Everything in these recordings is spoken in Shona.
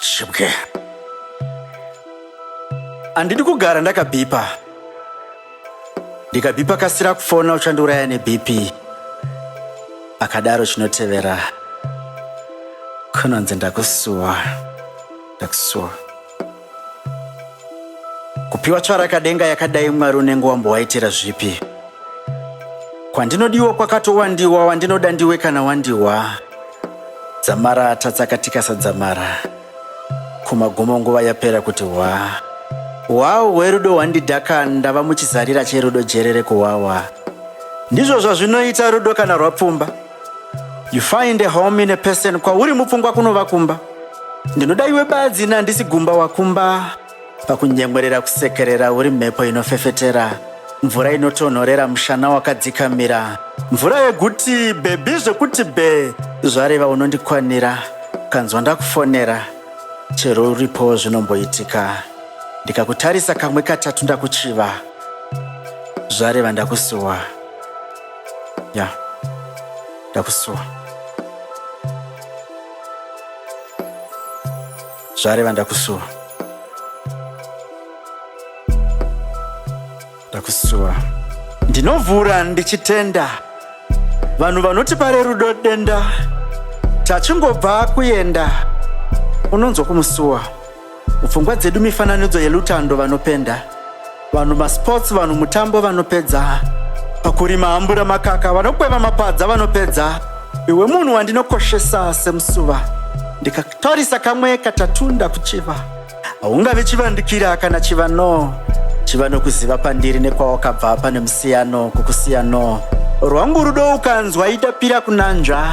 Shibwe. Andidi kugara ndakabhipa. Ndikabhipa kasira kufona uchandiuraya neBP. Akadaro chinotevera. Kunonzi ndakusuwa. Ndakusuwa. kupiwa tsvarakadenga yakadai mwari unenge wambowaitira zvipi kwandinodiwa kwakatowandiwa wandinoda ndiwe kana wandiwa dzamara tatsaka tikasadzamara kumagumo nguva yapera kuti hwa hwawo hwerudo hwandidhaka ndava muchizarira cherudo jerere kuwawa ndizvo zvazvinoita rudo kana rwapfumba You find a home in a person kwauri mupfungwa kunova kumba ndinoda iwe badzi ina handisi gumba wakumba pakunyemwerera kusekerera uri mhepo inofefetera mvura inotonhorera mushana wakadzikamira mvura yeguti bhebhi zvekuti bhe zvareva unondikwanira kanzwa ndakufonera chero uripo zvinomboitika ndikakutarisa kamwe katatu ndakuchiva zvareva ndakusuwa ya ndakusuwa zvareva ndakusuwa ndakusuwa ndinovhura ndichitenda vanhu vanoti pare rudo denda tachingobva kuenda unonzwa kumusuwa Mupfungwa dzedu mifananidzo yelutando vanopenda. Vanhu masports vanhu mutambo vanopedza. Pakurima hambura makaka vanokweva mapadza vanopedza. Iwe munhu wandinokoshesa semusuva. Ndikakutarisa kamwe katatunda kuchiva. Haungavi chivandikira kana chiva no. Chiva nokuziva pandiri nekwawakabva pane musiyano kukusiya no. Rwangu rudo ukanzwa idapira kunanzva.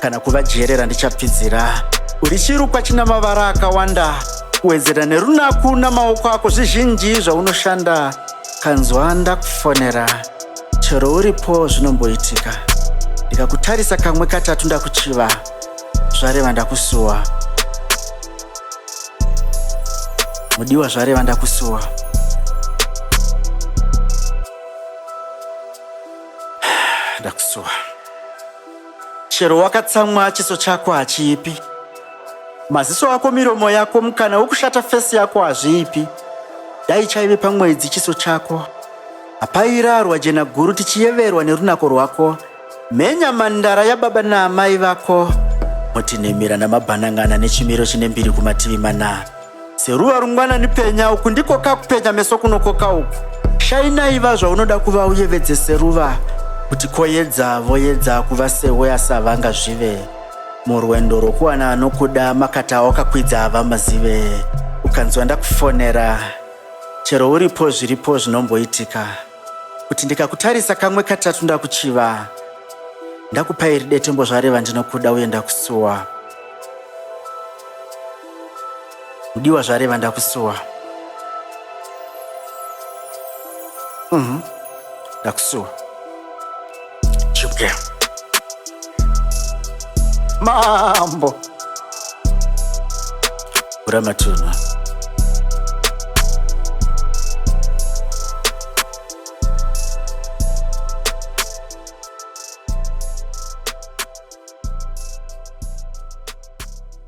kana kuvajerera ndichapfidzira uri chirukwa china mavara akawanda kuwedzera nerunaku namaoko ako zvizhinji zvaunoshanda kanzwa ndakufonera chero uripo zvinomboitika ndikakutarisa kamwe katatu ndakuchiva zvareva ndakusuwa mudiwa zvareva ndakusuwa ndakusuwa Chero wakatsamwa chiso chako hachiipi. Maziso ako miromo yako mukana wekushata fesi yako hazviipi. Dai chaive pamwedzi chiso chako. Hapairarwa jena guru tichiyeverwa nerunako rwako. Mhenya mandara yababa naamai vako. Moti nemira namabhanangana nechimiro chine mbiri kumativi mana. Seruva rungwanani penya uku ndiko kakupenya meso kunokoka uku. Shainai va zvaunoda kuva uyevedze seruva kuti koyedza voyedza kuva sehwe asavanga zvive. Murwendo rwokuwana anokuda makata awakakwidza hava mazive. Ukanzwa ndakufonera chero uripo zviripo zvinomboitika kuti ndikakutarisa kamwe katatu ndakuchiva ndakupa iri detembo zvareva ndinokuda uye ndakusuwa Mudiwa zvareva ndakusuwa. Mhm. Ndakusuwa. Chipke. Mambo. Ura matunhu.